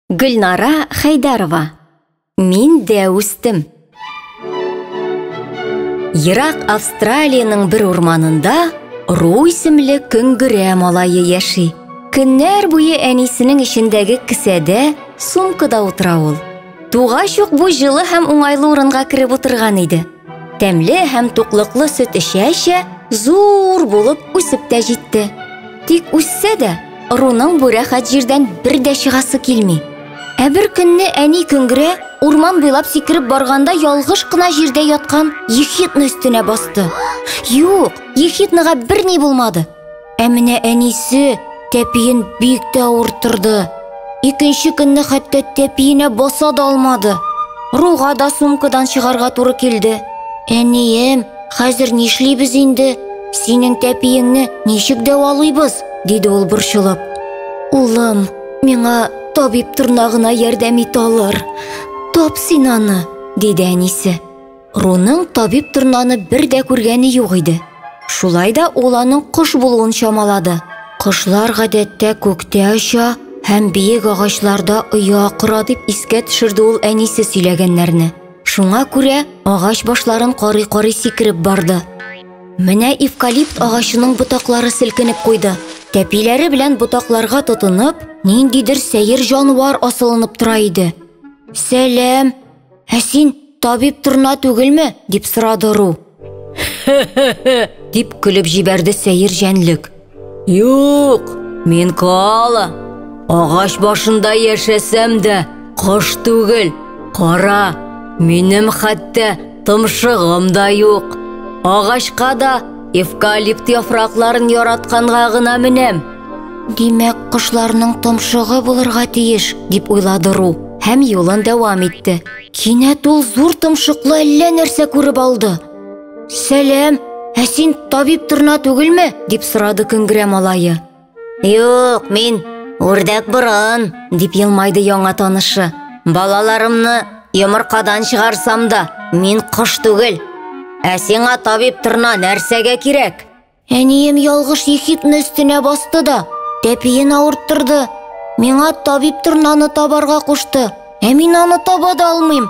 Гөлнара Хәйдәрова Мин дә үстем. Ерак Австралиянең бер урманында Ру исемле көңгерә малае яши. Көннәр буе әнисенең эчендәге кесәдә, сумкада утыра ул. Тугач ук бу җылы һәм уңайлы урынга кереп утырган иде. Тәмле һәм туклыклы сөт эчә-эчә, зур булып үсеп тә җитте. Тик үссә дә, ыруның бу рәхәт җирдән бер дә чыгасы килми. Ә бер көнне әни Көңгерә урман буйлап сикереп барганда ялгыш кына җирдә яткан ехидна өстенә басты. Юк, ехиднага берни булмады. Ә менә әнисе тәпиен бик тә авырттырды. Икенче көнне хәтта тәпиенә баса да алмады. Руга да сумкадан чыгарга туры килде. Әнием, хәзер нишлибез инде? Синең тәпиеңне ничек дәвалыйбыз? диде ул борчылып. Улым, миңа табиб торнагына ярдәм ит алыр. Тап син аны, диде әнисе. Руның табиб торнаны бер дә күргәне юк иде. Шулай да ул аның кош булуын чамалады. Кошлар гадәттә күктә оча һәм биек агачларда оя кора дип искә төшерде ул әнисе сөйләгәннәрне. Шуңа күрә агач башларын карый-карый сикереп барды. Менә эвкалипт агачының ботаклары селкенеп куйды. Тәпиләре белән ботакларга тотынып, ниндидер сәер җанвар асылынып тора иде. Сәлам, Ә син табиб торна түгелме? дип сорады Ру. дип көлеп җибәрде сәер җәнлек. Юк, мин коала. Агач башында яшәсәм дә, кош түгел. Кара, минем хәтта томшыгым да юк. Агачка да эвкалипт яфракларын яратканга гына менәм. Димәк, кошларның томшыгы булырга тиеш, дип уйлады Ру һәм юлын дәвам итте. Кинәт ул зур томшыклы әллә нәрсә күреп алды. Сәлам, ә син табиб торна түгелме? дип сорады Көнгерә малае. Юк, мин үрдәк борын, дип елмайды яңа танышы. Балаларымны йомыркадан чыгарсам да, мин кош түгел. Ә сиңа табиб торна нәрсәгә кирәк? Әнием ялгыш ехидны өстенә басты да, тәпиен авырттырды. Миңа табиб торнаны табарга кушты. Ә мин аны таба да алмыйм.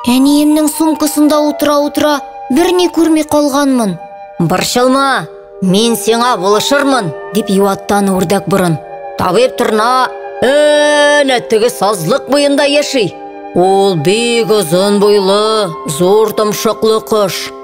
Әниемнең сумкасында утыра-утыра берни күрми калганмын. Борчылма, мин сиңа булышырмын, дип юаттан үрдәк борын. Табиб торна әнә теге сазлык буенда яши. Ул бик озын буйлы, зур томшыклы кош.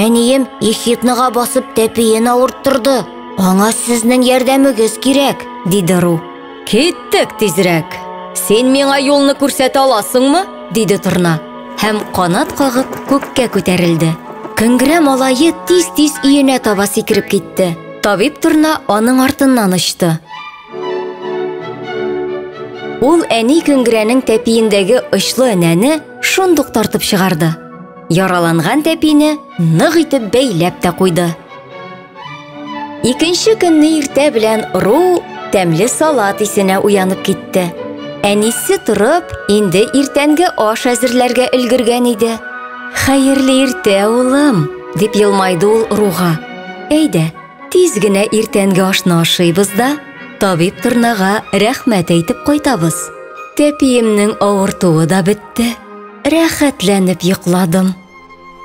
Әнием Ехидныга басып тәпиен авырттырды. Аңа сезнең ярдәмегез кирәк, диде Ру. Киттек тизрәк. Син миңа юлны күрсәтә аласыңмы? диде Торна. Һәм канат кагып күккә күтәрелде. Көнгерә малае тиз-тиз өенә таба сикереп китте. Табиб Торна аның артыннан очты. Ул әни көнгерәнең тәпиендәге очлы энәне шундук тартып чыгарды. Яраланган тәпине нык итеп бәйләп тә куйды. Икенче көнне иртә белән Ру тәмле салат исенә уянып китте. Әнисе торып, инде иртәнге аш әзерләргә өлгергән иде. Хәерле иртә, улым, дип елмайды ул Руга. Әйдә, тиз генә иртәнге ашны ашыйбыз да, табиб торнага рәхмәт әйтеп кайтабыз. Тәпиемнең авыртуы да бетте. Рәхәтләнеп йокладым.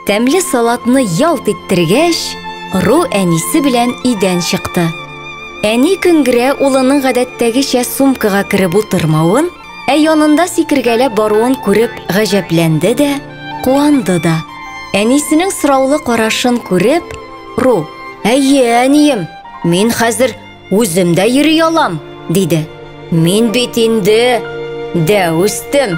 Тәмле салатны ялт иттергәч, Ру әнисе белән өйдән чыкты. Әни Көнгрә улының гадәттәгечә сумкага кереп утырмавын, ә янында сикергәләп баруын күреп гаҗәпләнде дә, куанды да. Әнисенең сораулы карашын күреп, Ру: "Әйе, әнием, мин хәзер Үзем дә йөри алам, диде. Мин бит инде дә үстем.